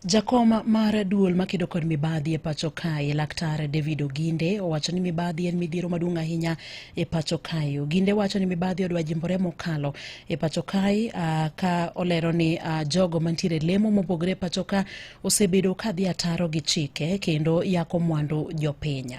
Jakom mar duol makedo kod mibadhi e pacho kae laktar David Oginde owacho ni mibadhi en midhiero maduong' ahinya e pacho kae. Oginde wacho ni mibadhi odwa jimbore mokalo e pacho kae ah, ka olero ni ah, jogo mantiere lemo mopogore e pacho ka osebedo ka dhi ataro gi chike kendo yako mwandu jopiny.